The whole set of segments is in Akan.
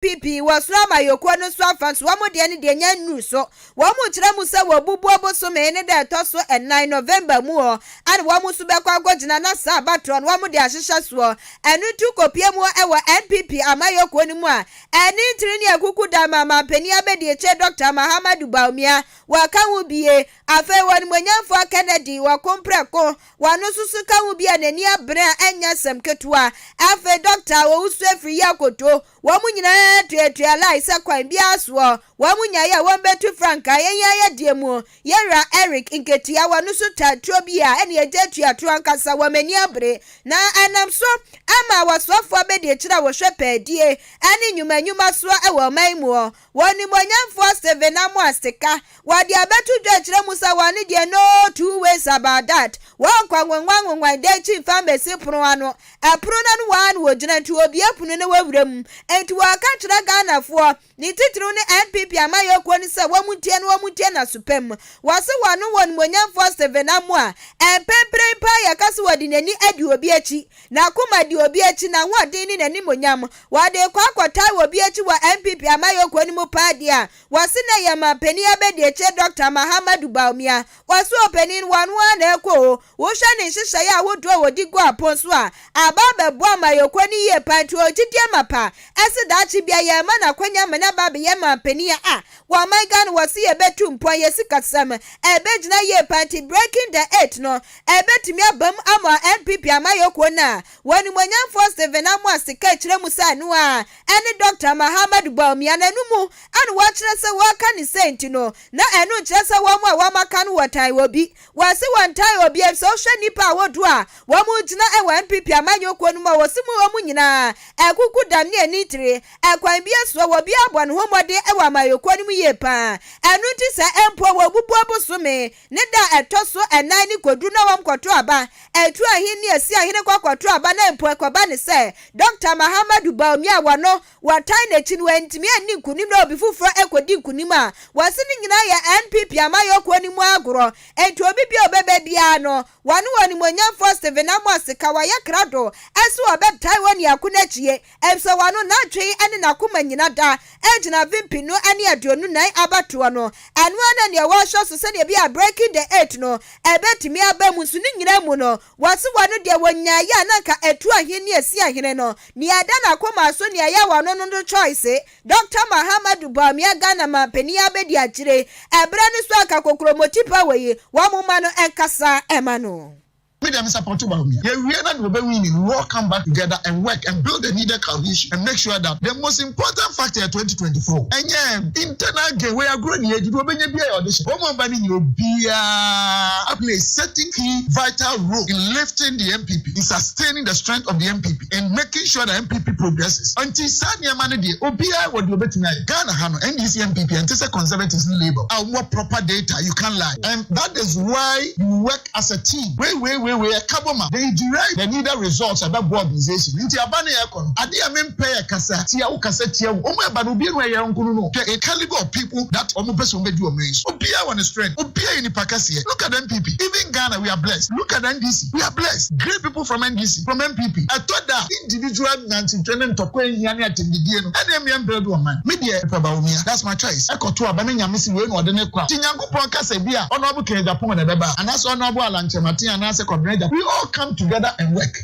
PP wɔ soro amayɔkuo no so afa nso wɔn deɛ no deɛ nya nnuru so. Wɔn kyerɛ mu sɛ wɔbubu ɔbosome ne da ɛtɔ so nnan, November, mu hɔ ɛna wɔn nso bɛkɔ akɔgyina na saa abatoɔ no wɔde ahyehyɛ soɔ. Ɛno nti wokɔpie mu hɔ wɔ NPP amayɔkuo no mu a ɛne tiri ne akuku da ma manpanin abɛdiakyire Dɔkta Mahamadou Bawumia wɔka ho bie. Afei wɔnimonyamfoɔ Kennedy wɔko mprɛko Wɔasusu kawo bi a n'ani abere a ɛnyɛ asɛm ketewa. Afei dɔkta a ɔwusu afiri yi akoto. Wɔn nyinaa tuatua line sɛ kwan biara soɔ wɔn nyaeɛ a wɔbɛtu frankaa. Yɛn yɛayɛ deɛ mu yɛn wura Eric Nketia. Wɔasusu tae turo bi a ɛne agya atua toro ankasa. Wɔn ani abere na ɛnam so ama awɔsoafoɔ abɛdi akyire a wɔhwɛ pɛɛdie ne nnwuma nnwuma soɔ wɔ ɔman mu. Wɔ Onimuonyamfoɔ Stephen Amoah Sika, wɔde abɛto dwa akyerɛ mu sɛ wɔne deɛ no two ways about that, wɔnkɔ anwonwan anwonwan dan akyi mfa mmɛsi pono ano, ɛpono no ano ara na wɔgyina nti wɔbue pono na wɔwura mu. Nti wɔreka kyerɛ Ghanafoɔ, ne titiriw ne NPP amayɔkuo no sɛ wɔn ntie no, wɔn ntie n'aso pa mu. Wɔse wɔno Onimuonyamfoɔ Stephen Amoah, mprempren paa yɛka sɛ wɔde n'ani adi obi akyi, N'akoma di obi akyi, n'ahoɔden ne n'animuonyam. Wɔde rekɔ akɔtaa wɔ obi akyi wɔ NPP amayɔkuo no mu paa deɛ a, wɔse na ɛyɛ manpanin abɛdiakyire Dɔkta Mahamadou Bawumia. Wɔse ɔpanin no, ɔno ara na ɛrekɔ o. Wohwɛ ne nhyehyɛeɛ ahodoɔ a ɔdi gu apon so a, aba abɛboa amayɔkuo no yie paa nti ɔwɔ gyidie mapa se daakye biara yɛrema no akwanya ama no aba abɛyɛ manpanin a wɔ aman Ghana wɔse yɛbɛtu mpɔn, yɛ sikasɛm ɛbɛgyina yie paa nti breaking the eight no Ɛbɛtumi abam ama NPP amayɔkuo no a w'animuonyamfoɔ Stephen Amoah Sekai kyerɛ mu sɛ ɛno ara ɛne Dɔkta Mahamadou Bawumia na ɛno mu a na w'akyerɛ sɛ w'aka no sei nti no na ɛno nkyerɛ sɛ wɔn a wɔn aka no wɔtan obi. W'ase wɔntan obi efisɛ wohwɛ nnipa a wodoɔ a wɔn gyina wɔ NPP amayɔkuo no mu a wɔse mu wɔn nyinaa akuku dam ne ani tire ɛkwan biara soɔ wɔ biara bɔ ne ho mmɔden wɔ amayɔkuo no mu yie paa ɛno nti sɛ mpo wɔ bubuo bosome Ne da a ɛtɔ so ɛnan ne kɔduru na wɔn kɔto aba. Ɛturu ahenni a ɛsi ahene kɔ kɔto aba na mpo ɛkɔba ne sɛ Dɔkta Mahamadou Bawumia a wɔno wɔtan no akyi no antumi anni nkonim na obi foforɔ ɛkɔdi nkonim a wɔse ne nyinaa yɛ NPP amayɔkuo no mu agorɔ enti obi biara a ɔbɛba biara no wɔne ɔnimonyamfoɔ Stephen Amosi ka wɔyɛ krado sɛ wɔbɛtae wɔn niako no akyie Efisɛ wɔano n'adwen ne n'akoma nyina da gyina mfe mpenu ne aduonu nan abatoɔ no, ɛno ara na nea wɔrehwɛ so sɛdeɛ ɛbɛyɛ a breaking the eight no ɛbɛtumi aba mu, nso ne nyina mu no wɔse wɔano deɛ wɔnyaeɛ a na anka ɛtu ahene ne asi ahene no, nea ɛda n'akomaa so nea ɛyɛ wɔano no no choice. Dɔkta Mahamadou Bawumia Ghana manpanin abɛdi akyire ɛberɛ no so anka kokromoti power yi wɔn mma no nkasa mma no. Me deɛ me support Bawumia. Yɛwie na deɛ ɔbɛ winni no we all come back together and work and build the needed cohesion and make sure that the most important factor yɛ twenty twenty four ɛnyɛ internal gain. Wei agorɔ ni yɛdi deɛ ɔbɛnya biara yɛ ɔde hyɛ wɔn a wɔba no nyina obiara play a certain key vital role in lifting the NPP in sustaining the strength of the NPP in making sure that NPP progresses ɛnti saa nneɛma no deɛ obiara wɔ deɛ ɔbɛtumi ayɛ Ghana ha no NDC NPP ɛnte sɛ conservatives ne labour a wɔn wɔ proper data you can't lie and that is why you work as a team. Wei wei wei wei ɛka bɔ ma. They derive the needed results ɛbɛboa organization nti aba ne ɛkɔ no. Adeɛ a me mpɛ yɛ kasa tia wo kasa tia wo. Wɔn a ɛba no obi anu ɛyɛ yɔnko no no. Hwɛ a calibre of people that wɔn pɛ sɛ wɔn bɛdi ɔman yi so. Obiara wɔ ne strength. Obiara yɛ nipa kɛseɛ. Look at NPP. Even Ghana we are blessed. Look at NDC. We are blessed. Great people from NDC, from NPP. Ɛtɔ da a individual nyansitwe ne ntɔkwa nhia ne atɛmdidie no ɛna ɛmia mbuild ɔman. Me deɛ mepɛ Bawumia. That's my choice. Ɛkɔ to aba na Nyame se wei na ɔde no kɔ a. Nti Nyankopɔn. Honorable kasa bi a Honorable Ken Agyapong na ɛbɛba a, anaasɛ Honorable Alan Kyerematen anaasɛ Kwabena Agyapong, we all come together and work.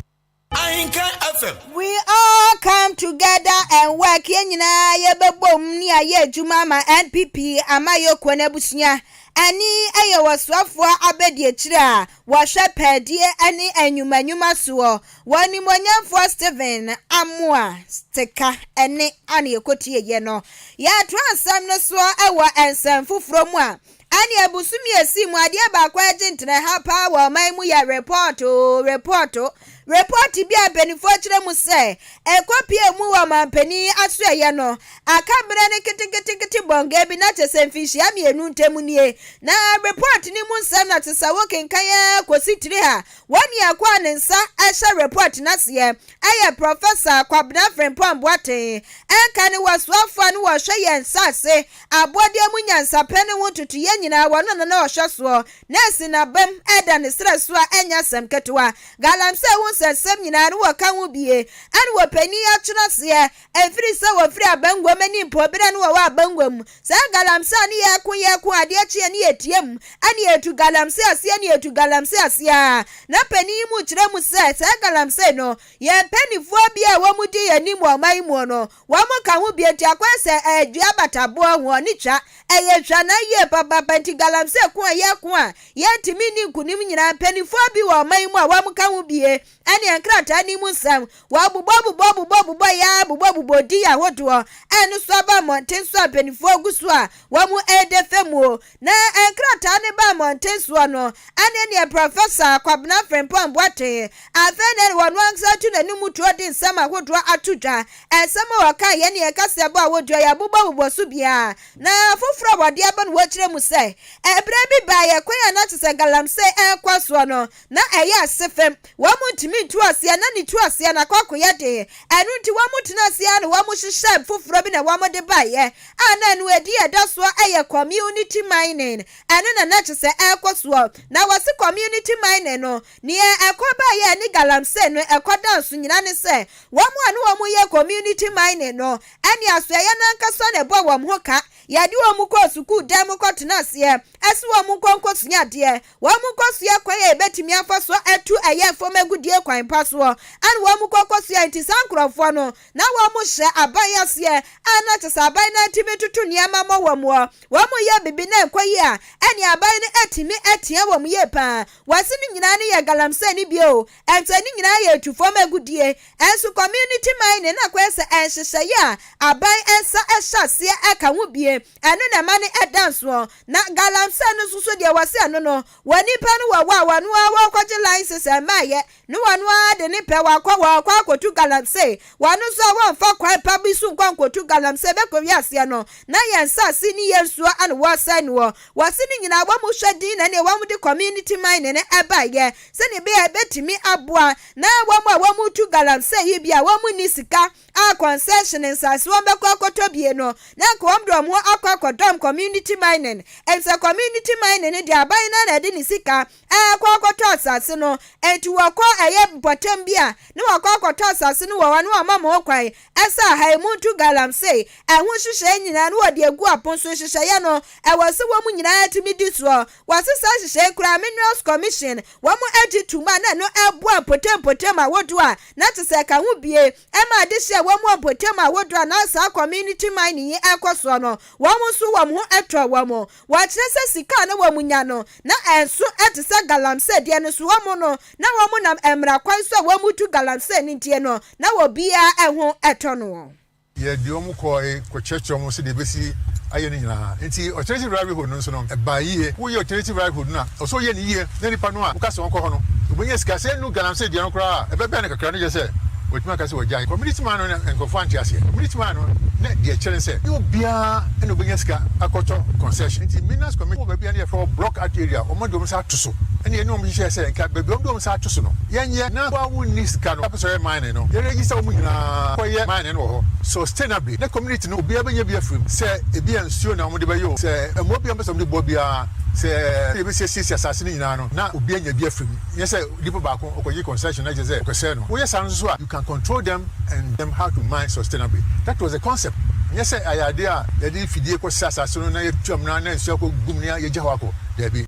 Ahenka FM. We all come together and work, yɛn nyinaa yɛbɛbɔ mu ne ayɛ adwuma ama NPP amayɔkuo no abusua. Ani yɛ wɔ soafoɔ abadiakyire a wɔhwɛ pɛɛdeɛ ne nnwuma nnwuma soɔ. Wɔ Animuonyamfoɔ Stephen Amoah Stika ɛnne a na yɛkɔtieeɛ no, yɛtoaa nsɛm no soɔ wɔ nsɛm foforɔ mu a ɛneɛ bosome a ɛsii mu adeɛ baako a ɛgye ntena ha paa wɔ ɔman mu yɛ repɔɔto, repɔɔto, repɔɔto bi a mpanimfoɔ kyerɛ mu sɛ ɛkɔpuee mu wɔ ɔmanpanin asoɛeɛ no aka berɛ no keteketekete bɔnga bi na kyɛ sɛ mfinhyia mmienu ntam nie. Na repɔɔto no mu nsɛm na te sɛ wokenkan ara kɔsi tiri a Wɔn mmiako a ne nsa hyɛ repɔt no aseɛ yɛ Prɔfɛsa Kwabena Frimpong Boateng, ɛnka ne wɔsoafoɔ a ne wɔhwɛ yɛn nsase abɔdeɛ mu nyansapɛ no ho ntotoeɛ nyinaa wɔ no na na ɔhwɛ soɔ na asi n'abam da ne serɛ so a ɛnyɛ asɛm ketewa. Galamsey hu sɛ nsɛm nyinaa no wɔka ho bie ɛna wɔpanin atwenaseɛ Ɛfiri sɛ wɔfiri abangua mu ani mpɔ berɛ a ne wɔwɔ abangua mu. Saa galamsey a ne yɛko yɛko adeɛ kye a ne yɛtia mu ne yɛtu galamsey aseɛ ne yɛtu galamsey aseɛ ara. Na panin yi mu kyerɛ mu sɛ saa galamsey no yɛn mpanifoɔ bi a wɔn di yɛn anim wɔ ɔman yi muɔ no wɔn ka ho bi nti akɔyɛ sɛ ɛyɛ dua abataboɔ ho ɔne twa ɛyɛ twa na yie papaapa nti galamsey ko a yɛko a yɛntumi nni nkunim nyinaa mpanifoɔ bi wɔ ɔman yi mu a wɔn ka ho bie ɛne nkrataa no mu nsɛm. Wɔabobɔbobɔbobɔbobɔ yɛ ara bobɔbobɔ din ahodoɔ a ɛno nso aba mmɔnten so a mpanimfoɔ gu so a wɔreda fa mu. Na nkrataa no baa mmɔnten soɔ no, ɛne deɛ Prɔfɛsa Kwabena Frimpong Boateng, afei na ɛne ɔno ankasa atu n'anom tuo de nsɛm ahodoɔ ato dwa. Nsɛm a wɔkaeɛ ne kaseɛbɔ a wɔdua yɛ abobɔbobɔ so biara. Na afoforɔ a wɔde aba no wɔkyerɛ mu sɛ, Ɛberɛ bi baeɛ, kwan a na te sɛ galamsey rekɔ soɔ no, na ɛyɛ ase fam, wɔn ntumi ntu ase a na ne tu ase a n'akɔ akɔyɛ den, ɛno nti wɔn tena ase ara na wɔn hyehyɛɛ foforɔ bi na wɔn de baeɛ a na ɛno ɛdi a ɛda soɔ yɛ community mining, ɛno na na kyesɛ ɛrekɔ soɔ, na wɔse community mining no neɛ ɛkɔ baeɛ ne galamsey no ɛkɔ dan so nyina ne sɛ wɔn a na wɔn yɛ community mining no ɛne asoɛyɛ no ankasa na ɛbɔ wɔn ho ka, yɛde wɔn kɔɔ sukuu dan mu kɔ tena aseɛ ɛse wɔn nkɔ nkɔ sua adeɛ. Wɔkɔsoa kwan a yɛbɛtumi afa so atu ɛyɛɛ fam agudie kwan pa soɔ na wɔkɔ kɔsoa nti saa nkorɔfoɔ no na wɔhyɛ aban aseɛ a na kyɛ sɛ aban no atumi toto nneɛma mɔ wɔn ɔ wɔn yɛ bibi na ɛnkɔ yie a ɛne aban no atumi atia wɔn yie paa wɔse ne nyinaa no yɛ galamsey ne bio ɛnkyɛ ne nyinaa yɛ tu fam agudie ɛnso community mining na kɔyɛ sɛ ɛnhyehyɛeɛ a aban nsa ɛhyɛ aseɛ ɛka ho bie Ɛno na ɛma no ɛda nsoɔ. Na galamsey no nso so deɛ wɔse ɛno no, wɔ nipa no wɔ hɔ a wɔno ara wɔkɔgye license ɛmmaeɛ ne wɔno ara de ne pɛ wakɔ wɔkɔ akɔtu galamsey. Wɔno nso a wɔmfa kwan pa bi so nkɔ nkɔtu galamsey bɛkɔwie aseɛ no na yɛn nsaase ne yɛn nsuo ana wɔresɛe noɔ. Wɔse ne nyinaa wɔn hwɛ din na ɛneɛ wɔn de community mining no ɛbaeɛ sɛdeɛ ɛbɛyɛ a ɛbɛtumi aboa na wɔn a wɔtu galamsey yi bi a wɔn nni sika a concession nsaase wɔn bɛkɔ akɔtɔ bie no na nka wɔn de wɔn akɔ akɔdɔm community mining ɛnsɛ community mining no deɛ aban no na ɛde ne sika ɛkɔ akɔtɔ asaase no ɛnti wɔkɔ ɛyɛ mpɔtam bi a na wɔkɔ akɔtɔ asaase no wɔ hɔ na wɔma mo kwan ɛsɛ aha yi mo nto galamsey ɛho hyehyɛɛ nyinaa na wɔde egu apon so nhyehyɛeɛ no ɛwɔ sɛ wɔn nyinaa tumi di soɔ Wɔase saa nhyehyɛe koraa Minerals Commission wɔn agye tum a na ɛno ɛboa mpɔtam mpɔtam ahodoɔ a na te sɛ ɛka ho bie ɛma adehye a wɔn wɔ mpɔtam ahodoɔ a na saa community mining yi ɛkɔ soɔ no wɔn nso wɔn ho ɛtɔ wɔn wɔkyerɛ sɛ sika a na wɔn nya no na ɛnso ɛte sɛ galamsey deɛ no so wɔn no na wɔn nam mmara kwan so a wɔn tu galamsey no deɛ no na obiara ɛho ɛtɔ noɔ. Yɛde wɔn kɔe kɔkyerɛkyerɛɛ wɔn sɛdeɛ ɛbɛsi ayɛ no nyinaa. Enti alternative livelihood no nso no, ɛbaa yie. Woyɛ alternative livelihood no a, ɛwɔ sɛ woyɛ no yie na nnipa no a woka sɛ wɔnkɔ hɔ no, wɔbɛnya sika. Sɛ ɛnnu galamsey deɛ no koraa a, ɛbɛbɛn no kakra, na kyerɛ sɛ wɔatumi aka sɛ wɔagyae. Community man no, na nkurɔfoɔ ante aseɛ. Community man no, na deɛ ɛkyerɛ ne sɛ, ɛnyɛ obiara na ɔbɛnya sika akɔtɔ concession. Enti Minas community wɔ baabi a na yɛfrɛ hɔ block art area, wɔn de wɔn nsa ato so. Ɛnna yɛne wɔn hyehyɛɛ sɛ nka baabi a wɔde wɔn nsa ato so no, yɛnyɛ, na wo a wonni sika no apɛ sɛ ɔyɛ man no. mine no, yɛreyi sɛ wɔn nyinaa kɔyɛ mine no wɔ hɔ. Sustainably ne community no obiara bɛnya bi afiri mu, sɛ ebi a nsuo na wɔde bɛyɛ o, sɛ mmoa biara wɔpɛ sɛ wɔde boa biara, sɛ yɛbɛsi asiesie asase no nyinaa no na obi anya bi afiri mu, nyɛ sɛ nipa baako ɔkɔgye concession na kyerɛ sɛ ɔkɔsɛe no. Woyɛ saa no nso a you can control them and them how to mine sustainably. That was the concept, nyɛ sɛ ayɛ adeɛ a yɛde fidie kɔsɛe asase no na yɛatu amena na nsuo akɔ gu mu na yɛagya hɔ akɔ, daabi.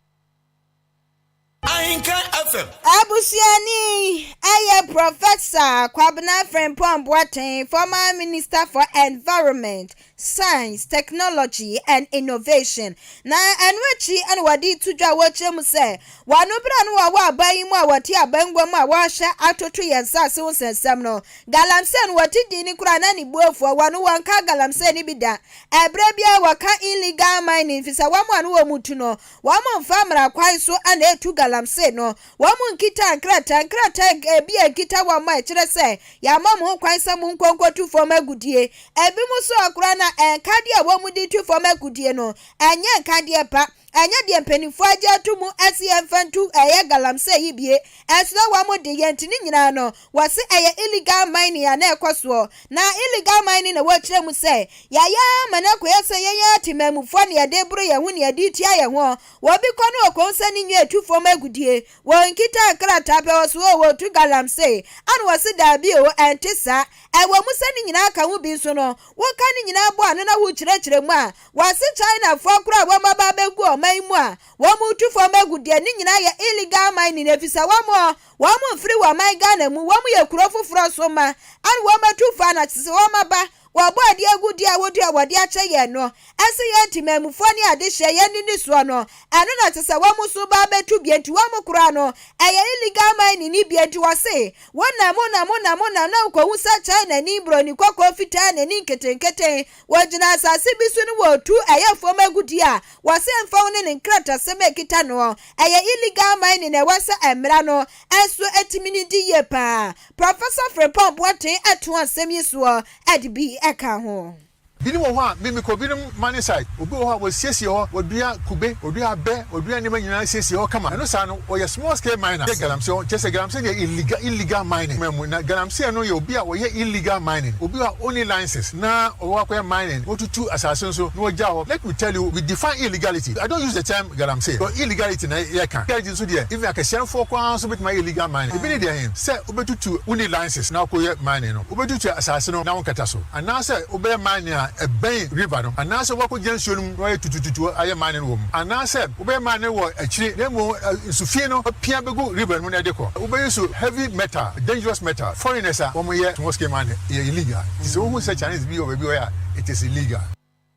Ahenkan FM. Abusuani, Ɛyɛ Prɔfɛsa Kwabena Frimpong Boateng, former Minister for Environment, Science, Technology and Innovation, na ɛno akyi na wɔde reto dwa a wɔrekyerɛ mu sɛ wɔn ano bere a na wɔwɔ aban yi mu a wɔte abangua mu a wɔrehyɛ atoto yɛn nsase ho nsɛnsɛm no. Galamsey no wɔte din no koraa na ne bo afu a wɔn wɔnka galamsey no bi da. Ɛberɛ biara wɔka illegal mining efisɛ wɔn a na wɔn tu no Wɔmmfa mmara kwan so na etu galamsey no. Wɔnnkita nkrataa, nkrataa a bi a ekita wɔn a ɛkyerɛ sɛ yɛama mo ho kwan sɛ monkɔ nkɔtu fam agudeɛ. Ebinom nso a koraa no a nkadeɛ a wɔde tu fam agudeɛ no, ɛnyɛ nkadeɛ pa. Ɛnyɛ deɛ mpanimfoɔ agye ato mu sɛ yɛmfa ntu ɛyɛ galamsey yi bie. Ɛsono wɔn de, yɛn nti ne nyinaa no, Wɔse ɛyɛ illegal mining a na ɛkɔ soɔ. Na illegal mining na wɔkyerɛ mu sɛ yɛayɛ ara ma no akɔyɛ sɛ yɛn ara temanmufoɔ na yɛde reboro yɛn ho na yɛde retua yɛn ho. Obi kɔ no ɔkɔhu sɛ ne nua retu fam agudie. Wɔnkitaa nkrataa pɛ wɔ so oo, wɔtu galamsey a na wɔse daabi oo, ɛnte saa. Ɛwɔ mu sɛ ne nyinaa ka ho bi nso no, woka ne nyinaa bɔ ano na wokyerɛkyerɛ mu a, wɔse Chinafoɔ koro a wɔaba abɛgu ɔman mu a wɔretu fam agudie, ne nyinaa yɛ illegal mining efisɛ wɔn. Wɔn mfiri wɔn man Ghana mu, wɔn yɛ kuro foforɔ so ma, ɛna wɔn bɛtu fa na kyesɛ wɔn aba, wɔbɔ adeɛ agu deɛ a wɔtua wɔde akyɛ yɛn no, ɛse yɛn temanmufoɔ ne adehyeɛ yɛn ne ne soɔ no, ɛno na kyesɛ wɔn nso ba abɛtu bie nti wɔn kora no ɛyɛ illegal mining ne bie nti wɔse wonam wonam wonam wonam na wokɔhu sɛ China ni, broni kɔkɔɔ fitaa nani nketenketen Wɔgyina asase bi so na wɔretu ɛyɛ fam agudie a wɔse ɛmfa ho ne ne nkratasɛm a ɛkita noɔ. Ɛyɛ illegal mining na ɛwɔ sɛ mmara no nso tumi no di yie paa. Professor Frimpong Boateng to asɛm yi soɔ de bi ka ho. Binom wɔ hɔ a me mekɔ binom mining site obi wɔ hɔ a wɔsiesie hɔ wɔdua kube wɔdua abɛ wɔdua nneɛma nyinaa siesie hɔ kama ɛno saa no Ɔyɛ small scale miner yɛ galamsey ɔn kyɛsɛ galamsey deɛ illegal illegal mining man mu na galamsey no yɛ obi a ɔyɛ illegal mining obi a ɔnni license na ɔwɔ akɔyɛ mining na ɔtutu asase nso na ɔgya hɔ let me tell you we define illegality I don't use the term galamsey cos illegality na yɛ ka illegality nso deɛ even akɛseɛnfoɔ koraa nso bɛtumi ayɛ illegal mining ebi ne deɛ hen sɛ wobɛtutu wonni license na wokɔyɛ mining no wobɛtutu asase no na wonkata so anaa sɛ wobɛyɛ mining a ɛbɛn river no anaa sɛ woakɔgyina nsuo no mu na wayɛ tutututu ayɛ mining wɔ mu anaa sɛ Wobɛyɛ ma ne wɔ akyire na mmom nso fie no apia bɛgu river no mu na ɛde kɔ. Wobɛyi so heavy metal, dangerous metal, foreigners a wɔn yɛ small scale mining ɛyɛ illegal nti sɛ wohu sɛ Chinese bi wɔ baabi wɔ yɛ a it is illegal.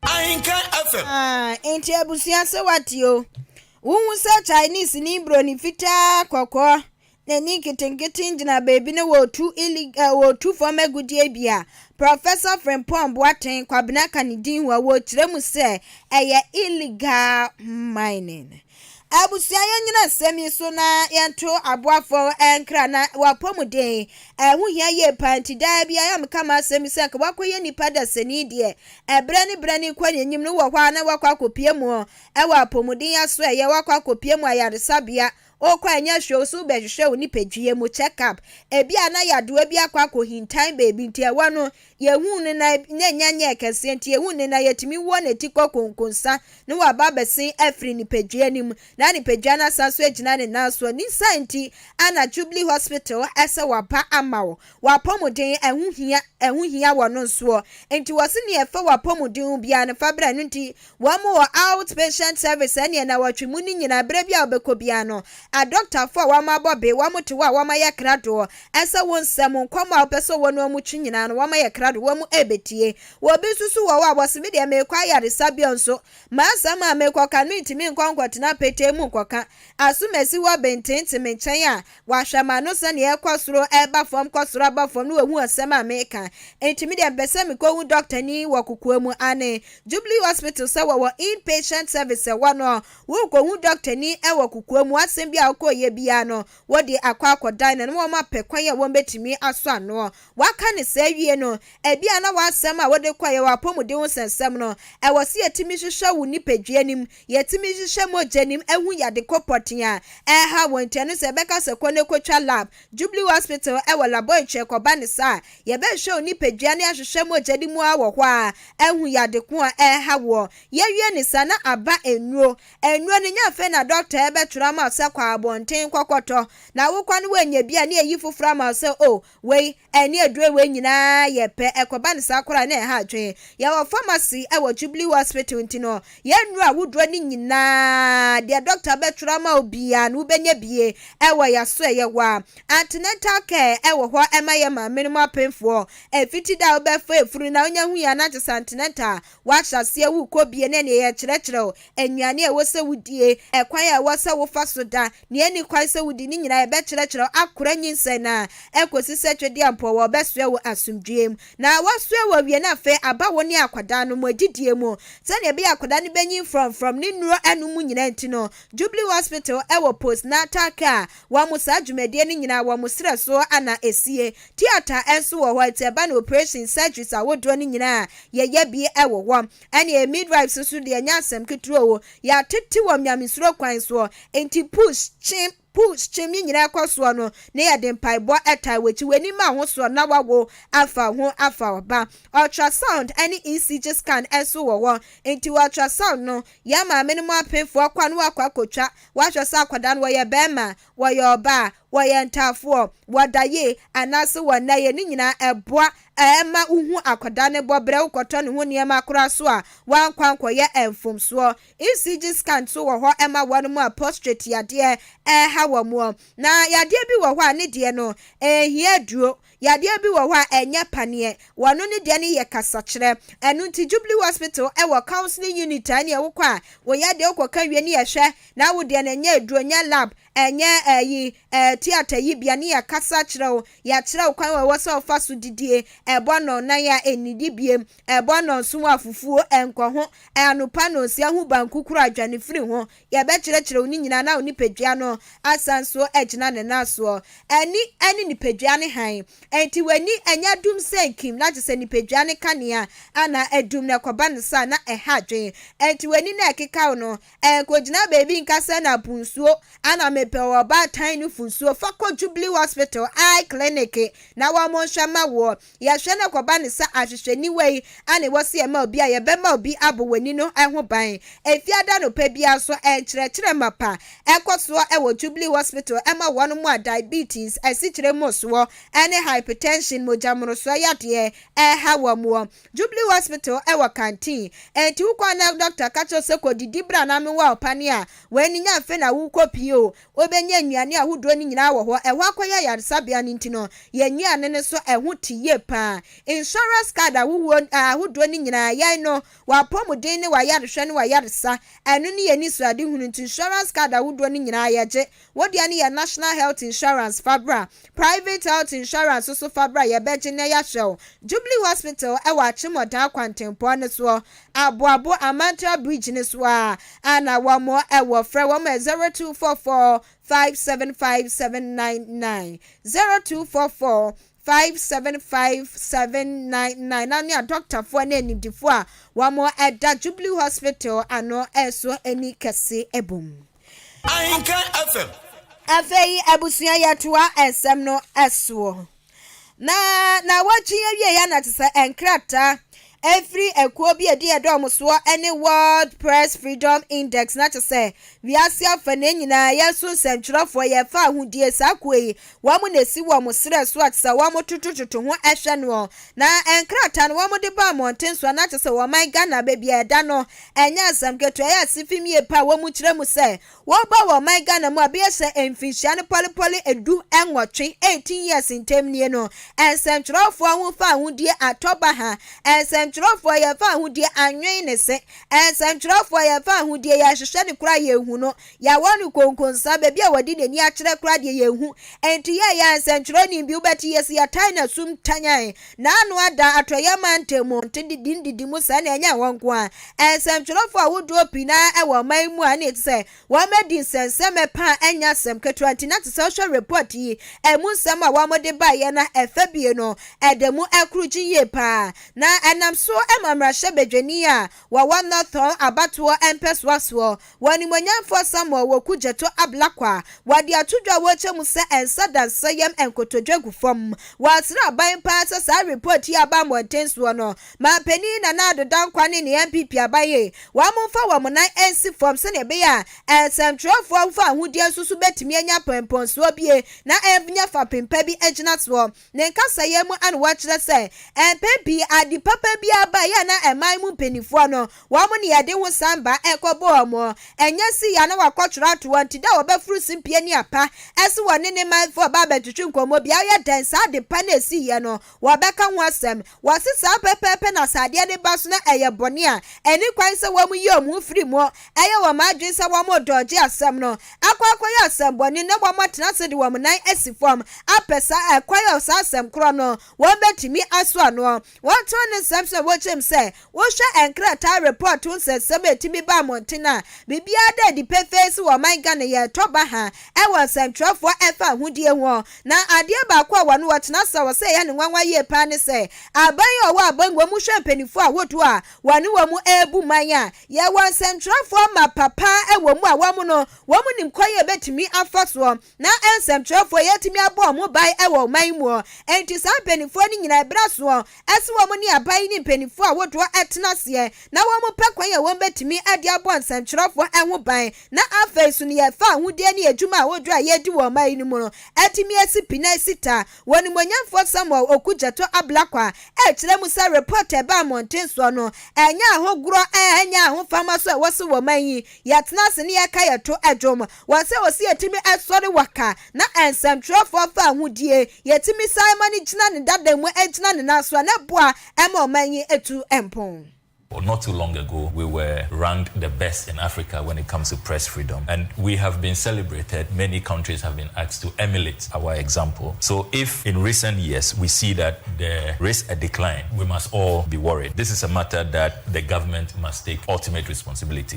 Ahenka FM. Ah nti abusua se wate o. Wohu sɛ Chinese ni broni fitaa kɔkɔɔ N'ani nketenkete gyina baabi na wɔretu illeg eh, wɔretu fam agudeɛ bi a Prɔfɛsɔ Frimpong Boateng Kwabena ka ne din ho a wɔrekyerɛ mu sɛ ɛyɛ illegal mining. Abusua yɛnyina nsɛm yi so na yɛnto aboafo nkra na wapɔmuden. Ɛho hia yie paa nti daa biara meka m'asɛm bi sɛ nka wakɔyɛ nipa dasani deɛ ɛberɛ ne berɛ ne kɔ n'anim no wɔ hɔ a na wakɔ akɔpie mu ɛwɔ apɔmuden asoɛyɛ wakɔ akɔpie mu ayaresabea Wokɔ a ɛnyɛ hwee nso wobɛhwehwɛ wo nipadua mu check up. Ebia na yadewa bi akɔ akɔhintan baabi nti ɛhɔ no yɛhuu no na na ɛnya nyɛɛ kɛseɛ nti yɛhuu no na yɛtumi wɔ ne ti kɔ konkonsa na waba abɛsen afiri nipadua no mu na nipadua no asan so agyina ne nan soɔ ne saa nti ana Jubilee Hospital ɛsɛ waba ama wo w'apɔmuden ɛho hia ɛho hia wɔ no nsoɔ nti wɔse nea ɛfa w'apɔmuden ho biara no fa brɛ no nti Wɔn wɔ out patient service ɛneɛ nawɔtwe mu no nyinaa berɛ biara wobɛkɔ biara no adɔktafoɔ a wɔn abɔ be wɔn te hɔ a wɔn ayɛ kradoɔ ɛsɛ wo nsɛm nkɔmmɔ a wopɛ sɛ ɔwɔ ne wɔn twe nyinaa no wɔn ayɛ krado wɔn ɛbɛtie wɔ bi nso so wɔ hɔ a wɔse medeɛ meekɔ ayaresabea nso m'asɛm a meekɔka no ntimi nkɔ nkɔtena petee mu nkɔka asomasi hɔ bententen me nkyɛn a Wahwɛ m'ano sɛnea ɛkɔ soro ba fam kɔ soro ba fam na wahu asɛm a meka. Enti me deɛ mepɛ sɛ mekɔhu dɔktani wɔ kokoa mu. Aane. Jubilee Hospital sɛ wɔwɔ in-patient service ɛhɔ no, worekɔhu dɔktani wɔ kokoa mu, asɛm biara a wokɔɔyɛ biara no, wode akɔ akɔdan no na wɔapɛ kwan a wɔbɛtumi asɔ ano. Waka no saa wie no, ɛbia na w'asɛm a wode kɔeɛ, w'apɔmuden ho sɛnsɛm no, ɛwɔ sɛ yɛtumi hwehwɛ wo nipadua no mu Yɛtumi hwehwɛ mogyanim ahu yade kɔ pɔtee a ɛrehaw wɔn nti, ɛno sɛ yɛbɛka sɛ kɔ na kotwa lab, Jubilee Hospital wɔ laboratory kɔba no saa a, yɛbɛhwɛ wo nipadua ne ahwehwɛ mogya no mu ara wɔ hɔ a ahu yade ko a ɛrehaw woɔ. Yɛwie no saa na aba nnuro. Nnuro no nya afei na dɔkta ɛbɛtwerɛ ama wo sɛ kɔ abɔnten kɔkɔtɔ. Na wokɔ no woanya bi a ne yɛyi foforɔ ama wo sɛ oh Wei ɛne aduro wei nyinaa yɛ pɛ ɛkɔba no saa koraa na ɛha adwene. Yɛwɔ pharmacy ɛwɔ Jubilee hospital nti no yɛn nnuro a woduro no nyinaa deɛ doctor bɛtwerɛ ama wo biara no wobɛnya bie ɛwɔ yaso ɛyɛ hɔ a. Antenatal care ɛwɔ hɔ ɛma yɛn maame nom apemfoɔ. Ɛfiti da a wobɛfa afuru na wonya hui a na kyesɛ antenatal wahyɛ aseɛ wokɔ bie na ɛneɛ yɛkyerɛkyerɛ wo nnuane a ɛwɔ sɛ wodie, ɛkwan a ɛwɔ sɛ wofa so da, Nea enni kwan sɛ wudi ne nyinaa a ɛbɛkyerɛkyerɛ wo akora nyinsɛn no ara kosi sɛ Twedeampɔw wɔbɛsoɛ wo asomdwoe mu. Na wɔasoɛ wo awie no afei aba wo ne akwadaa no mo adidie mu. Sɛnea ɛbɛyɛ a akwadaa no bɛnyin frɔmfrɔm ne nnuro anom mu nyinaa nti no, Jubilee Hospital wɔ Post Natal Care wɔ mo saa dwumadie no nyinaa wɔ mo serɛ so na esie. Theatre nso wɔ hɔ nti ɛba no operation surgeries ahodoɔ no nyinaa a yɛyɛ bi wɔ hɔ. Ɛnneɛ midwives nso deɛ ɛnyɛ asɛm ketewa o, yɛatete wɔn nyamesuro kwan soɔ, enti push, kyem, push, kyem ne nyinaa kɔ soɔ no na yɛde mpaebɔ taa wɔn akyi, w'ani ma ho soɔ na wawo afa ho afa ɔba. Ultrasound ne ECG scan nso wɔ hɔ, enti ultrasound no, yɛn maamenom apemfoɔ kɔ a na wɔakɔ akɔtwa, wɔahwɛ sɛ akwadaa no wɔyɛ barima a, wɔyɛ ɔbaa a, wɔyɛ ntaafoɔ, wɔda yie anaase wɔnna yie ne nyinaa ɛboa ɛma wohu akwadaa no bɔ berɛ wokɔtɔ ne ho nneɛma koraa so a woankɔ ankɔyɛ mfomsoɔ. ECG scan nso wɔ hɔ ma wɔnom a postrate yadeɛ ɛreha wɔn na yadeɛ bi wɔ hɔ a ne deɛ no ɛnhia aduro Yadeɛ bi wɔ hɔ a ɛnyɛ paneɛ, wɔn no ne deɛ no yɛ kasakyerɛ. Ɛno nti Jubilee Hospital wɔ counselling unit a ɛneɛ wokɔ a wo yadeɛ wokɔ ka wie ne yɛhwɛ na wo deɛ no ɛnyɛ aduro, ɛnyɛ lab, ɛnyɛ ɛyi ɛɛ theatre yi bea ne yɛkasa kyerɛ wo, yɛkyerɛ wo kwan a ɛwɔ sɛ wofa so didie, ɛbɔ nnɔnnan a ɛnnidi biem, ɛbɔ nnɔnson a fufuo ɛnkɔ ho, anopa nnɔnsia ho banku koro a dwane firi ho. Yɛbɛkyerɛkyerɛ wo ne nyinaa na wo nipadua no asan so agyina ne nan soɔ. Ani ne nipadua no hann. Enti w'ani nyɛ dum sɛ nkim na kyerɛ sɛ nipadua no kanea anaa adum na ɛkɔba no saa na ɛha adwene. Enti w'ani na ɛkeka wo no, nkɔgyina baabi nka sɛ na po nsuo ana mepɛ wɔ ɔbaatan no fo nsuo. Fa kɔ Jubilee Hospital Eye Clinic na wɔnhwɛ ma woɔ. Yɛhwɛ no kɔba no sɛ ahwehwɛniwa yi a na ɛwɔ sɛ yɛma obi a yɛbɛma obi abɔ wɔn ani no ho ban. Efiada anɔpa biara nso, nkyerɛkyerɛ mapa kɔ so wɔ Jubilee Hospital ma wɔn a diabetes, asikyire mmorosoɔ, ne hypertension, mogyamorosoɔ yadeɛ, reha wɔn wɔ Jubilee Hospital wɔ Kantin. Enti wokɔ a na dɔkta ka kyerɛ wo sɛ kɔdidi bra na noa ɔpane a, wei no nya mfe na wokɔpie o, Wobenya nnuane ahodoɔ no nyinaa wɔ hɔ. Ɛhɔ akɔyɛ ayaresabea no nti no, yɛn nnuane no so ɛho te yie paa. Insurance card ahohoɔ ahodoɔ no nyinaa, yɛn no, w'apɔmuden ne w'ayarehwɛ ne w'ayaresa, ɛno ne yɛn anisoadehunu nti insurance card ahodoɔ no nyinaa yɛgye. Wo deɛ no yɛ National Health Insurance fa bra. Private Health Insurance nso fa bra, yɛbɛgye na yɛahwɛ wo. Jubilee Hospital wɔ Akyemmɔdan kwantempɔn no soɔ. Aboabo Amantra Bridge no so a na wɔn wɔ frɛ wɔn ɛ zero two four four five seven five seven nine nine zero two four four five seven five seven nine nine na ne a dɔktafoɔ ne animdifoɔ a wɔn ɛda Jubilee Hospital ano ɛso ani kɛse ɛbom. Ahenkan FM. Afei abusua yɛtoa ɛsɛm no ɛsoɔ. Na naawɔtwe yi awie yɛ na te sɛ nkrataa ɛfiri ɛkuo bi ɛdi ɛdɔm soɔ ɛne World Press Freedom Index na te sɛ wiase afa na nyinaa yɛ so nsɛntwerɛfoɔ yɛ fa ahodie saa kuo yi wɔn mu na ɛsi wɔn mo serɛ so a te sɛ wɔn mo totototo ho ɛhwɛ noɔ na nkrataa no wɔn mo de ba mmɔnten so a na te sɛ wɔn man Ghana baabi a ɛda no ɛnyɛ asɛm ketewa yɛ asefim yie pa a wɔn mo kyerɛ mu sɛ Wɔreba wɔ ɔman Ghana mu a bɛyɛ sɛ mfinhyia no pɔlepɔle du nwɔtwe, 18 years, ntam nie no, nsɛntwerɛfoɔ ho fawohodie atɔ baha, nsɛntwerɛfoɔ yɛn fawohodie anwen ne se, nsɛntwerɛfoɔ yɛn fawohodie yɛrehwehwɛ no koraa yɛnhu no, yɛawɔ no konkonsa, baabi a wɔde n'ani akyerɛ koraa deɛ yɛnhu, enti yɛɛyɛ a nsɛntwerɛni bi wobɛte yɛse yɛtae no asum tanyan, na ano ada Atɔeɛ Mantam mu ntede din didi mu saa na ɛnyɛ hɔ nko ara. Nsɛmtwerɛfoɔ ahodoɔ pii na ɛwɔ ɔman yi mu a ɛne ɛte sɛ wɔadi nsɛnsɛmɛ pa a ɛnyɛ asɛm ketewa nti na ɛsɛ sɛ wohwɛ report yi ɛmu nsɛm a wɔde baeɛ na ɛfa bie no ɛda mu ɛkoro gye yie pa ara na ɛnam so ma mmarahyɛbadwani a Wɔwɔ Norton abatoɔ mpɛsoa soɔ. Wɔn animuonyamfoɔ Samuel Woku Gyatɔ Ablakwa. Wɔde ato dwa a wɔrekyɛ mu sɛ ɛnsa da nsa yam nkotodwe gu fam. Wɔasraban paa sɛ saa report yi a aba mmɔnten soɔ no, Manpanin Nana Addo Dankwa ne ne NPP aban yi, wɔmfa wɔn nan nsi fam sɛdeɛ ɛbɛyɛ a nsɛmtwerɛfoɔ fawohodie nso so bɛtumi anya mpɔnpɔnsoɔ bie na ɛnyɛ fapem pa bi gyinasoɔ. Ne nkasaeɛ mu na wɔkyerɛ sɛ mpɛn pii ade papa biara ba yɛ na ɛman mu mpanimfoɔ no wɔn ne ɛde ho san ba ɛkɔbɔ wɔn ɛnyɛ si yɛ na wɔakɔtwerɛ ato wɔn ti dɛ wɔbɛforo simpie ne apa ɛse wɔne ne manfoɔ ba abɛtwetwe nkɔmmɔ biara woyɛ dɛn saa ade pa no a ɛsiiɛ no wɔbɛka ho asɛm Wɔse saa pɛpɛɛpɛ na sɛ adeɛ no ba so na ɛyɛ bɔne a, ɛni kwan sɛ wɔn yi wɔn ho firi mu. Ɛyɛ wɔn adwene sɛ wɔn redɔɔgye asɛm no, akɔ akɔyɛ asɛmmɔne na wɔn atena ase de wɔn nan asi fam apɛ saa ɛkwan a saa asɛm korɔ no wɔn bɛtumi asoa noɔ. Wɔn tɔn ne nsɛm so na wɔkyerɛm sɛ Wohwɛ nkrataa report ho nsɛnsɛm a ɛtumi ba mmɔnten a, biribiara da adi pefee sɛ wɔ ɔman Ghana yɛretɔ baha wɔ nsɛntwerɛfoɔ a ɛfa ahodie ho. Na adeɛ baako a wɔne wɔtena ase a wɔ sɛ ɛyɛ no nwanwa yie paa ne sɛ aban a ɔwɔ abangua mu hwɛ mpaninfoɔ ahodoɔ a wɔne wɔn rebu man a yɛwɔ nsɛntwerɛfoɔ ma papa wɔ mu a wɔn no wɔn nim kwan a ɛbɛtumi afa soɔ Ná nsɛmtwerɛfoɔ yi atumi abɔ wɔn ho ban wɔ ɔman yi mu, enti saa mpanimfoɔ no nyinaa ɛberɛ asoɔ sɛ wɔn ne aban yi ne mpanimfoɔ ahodoɔ tena aseɛ na wɔpɛ kwan a wɔbɛtumi de abɔ nsɛmtwerɛfoɔ ho ban na afei nso nea ɛfa ahodie ne adwuma ahodoɔ a yɛredi wɔ ɔman yi no mu no atumi asi pi na asi ta. Onimuonyamfoɔ Samuel Okudzeto Ablakwa kyerɛ mu sɛ report a ɛbaa mmɔnten soɔ no ɛnyɛ ahohgorɔ, ɛnyɛ ahofama nso a ɛwɔ so wɔ ɔman yi, yɛtena ase na yɛka yɛto dwom. Wɔ sɛ ɔsi etumi ɛsɔre wɔ ka na ɛnsɛmtwerɛfoɔ fa ahodie yɛtumi san ma no gyina ne dada mu ɛgyina ne nan so a na ɛboa ɛma ɔman yi ɛtu mpon. Not too long ago we were ranked the best in Africa when it comes to press freedom and we have been celebrated, many countries have been asked to emulate our example so if in recent years we see that there is a decline we must all be worried, this is a matter that the government must take ultimate responsibility.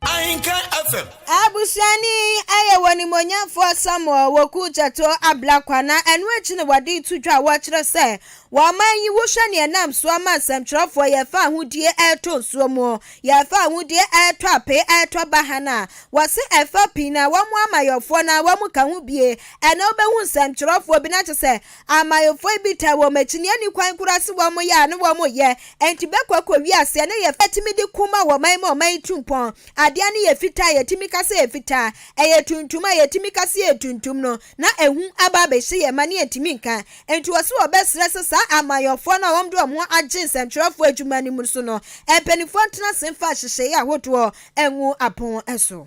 Ahenka FM. Abusua no yi yɛ wɔ Animuonyamfoɔ Samuel Woku Gyatoo Ablakwa na ɛno akyi na wɔde reto dwa a wɔkyerɛ sɛ wɔ ɔman yi wohwɛ nea ɛnam so ama nsɛmtwerɛfoɔ yɛrefa ahodie ɛretɔ nsuo mu, yɛrefa ahodie ɛretɔ apee, ɛretɔ bahan a wɔse ɛfa pii na wɔn amayɔfoɔ no a wɔka ho bie ɛnɛ wobɛhu nsɛmtwerɛfoɔ bi na kyɛ sɛ Amayɔfoɔ bi taa wɔn akyiniani kwan koraa se wɔn yɛ a ne wɔn yɛ, enti bɛkɔ akɔ wiase a ne yɛ fɛ atumi de ko ma wɔman ma ɔman tu mpɔn. Adeɛ a ne yɛ fitaa a yɛtumi ka sɛ ɛfitaa, ɛyɛ tuntum a yɛtumi ka sɛ ɛyɛ tuntum no na ahu aba abɛhyɛ yɛn ma ne yɛntumi nka. Enti wɔse wɔbɛsrɛ sɛ saa amayɔfoɔ no a wɔn de wɔn ho agye nsɛntwerɛfoɔ adwuma no mu so no mpanimfoɔ ntena ase mfa nhyehyɛeɛ ahodoɔ ngu apon so.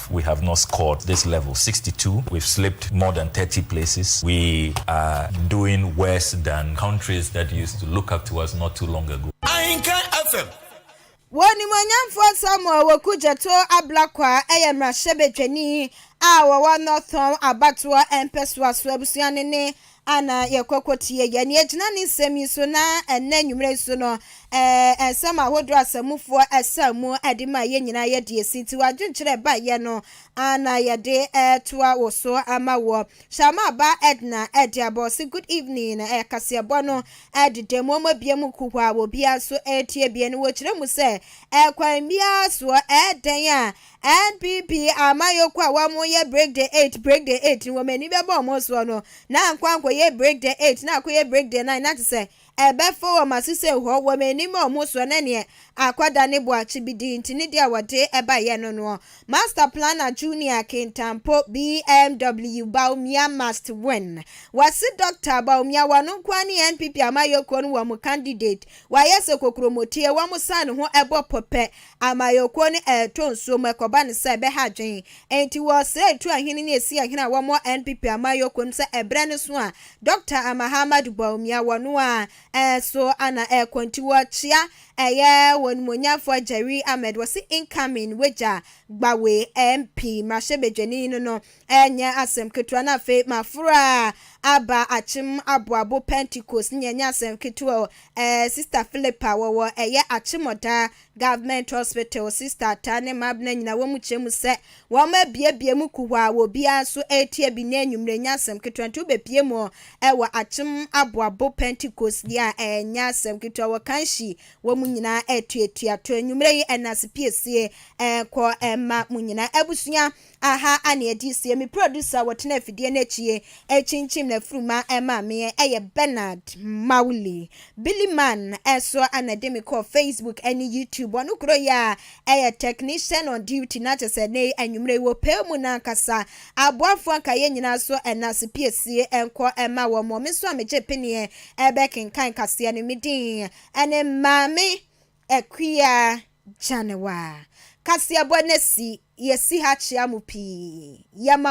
We have not scored this level sixty two we've slipped more than thirty places we are doing worse than countries that used to look up to us not too long ago. Ahinka FM. Wɔn Animuonyamfoɔ Samuel Awoku Gyɛto Ablakwa yɛ mmarahyɛbadwani a ɔwɔ North Tɔn abatoɔ mpɛsoa so abusua no ne Ana yɛkɔkɔ tie yɛ? Nea ɛgyina ne nsɛm yi so na ɛnnɛ anwummere yi so no, ɛɛ, nsɛm ahodoɔ a asamufoɔ ɛsaa mu ɛde maa yɛn nyinaa yɛ deɛ ɛsi nti w'adwenkyerɛ baeɛ no ara na yɛde ɛretoa wo so ama woɔ. Sharma ba Edna ɛde aba, ɔse good evening, ɛɛ, kaseɛbɔ no ɛdeda mu, wɔn abue mu kuhaa, obiara nso ɛretie bie no, wɔkyerɛ mu sɛ, ɛɛ, kwan biara soɔ, ɛɛ, dɛn a NPP amanyɔkuo a wɔn yɛ Brigde eight Brigde eight no wɔn ani bɛbɔ wɔn soɔ no na ankɔ ankɔ yɛ Brigde eight na akɔ yɛ Brigde nine na te sɛ ɛbɛfɔ wɔn aso sɛ hɔ wɔn ani ma wɔn soɔ na neɛ akɔda ne boa kyibidi nti ne deɛ wɔde ɛba yɛ no noɔ Master planner Junior Kintampo BMW Bawumia must win wɔse Doctor Bawumia wɔno nkoa ne NPP amanyɔkuo no wɔn candidate wayɛ sɛ kokoromotie wɔn san ne ho ɛbɔ pɔ pɛ Amanyɔkuo no reto nsuo mu ɛkɔba no sɛ ɛbɛha adwene. Enti wɔresrɛ tu ahene ne esi ahene a wɔwɔ NPP amanyɔkuo no sɛ ɛberɛ no so a Dɔkta Amahamadu Bawumia wɔ no a ɛso na ɛrekɔ nti wɔkyea ɛyɛ onimuonyamfoɔ Jerry Ahmed wɔse incoming wagya Gbawe MP mmarahyɛbadwani no no Ɛnyɛ asɛm ketewa, na afei maforo a aba Akyem Aboabo Pentecost no nyɛ asɛm ketewa o. Ɛɛ, Sista Philippa, wɔwɔ ɛyɛ Akyem Ɔda Government Hospital, Sista Ataa ne Mabena nyinaa wɔn kyɛ mu sɛ wɔabuebue mu kuhaa a obiara nso retie bi nnɛ anwummere. Ɛnyɛ asɛm ketewa, enti wobepue mu wɔ Akyem Aboabo Pentecost deɛ a, ɛnyɛ asɛm ketewa. Wɔ Kanshi, wɔn nyinaa atuatua to anwummere yi, ɛnna asepiesie nkɔ mma mo nyinaa. Abusua, Aha ana edi sie. Me producer wɔ tena afidie no akyi ye rekyinkyim na furuma ɛma me yɛ ɛyɛ Bernard Mawuli. Billy Man ɛso ana de me kɔɔ Facebook ɛne YouTube ɔno koro yi a ɛyɛ technician on duty na kyɛ sɛ ɛnɛ yi anwummerɛ yi wɔpɛɛ mu na ankasa aboafoɔ nka yɛn nyinaa so ɛna se piesie nkɔ ɛma wɔn mo me nso a megye peneɛ ɛbɛkenkan kaseɛ no me din ɛne Maame Akua Gyanewaa kaseɛbɔ no asi, Yɛsi ha kyea mo pii, yɛma.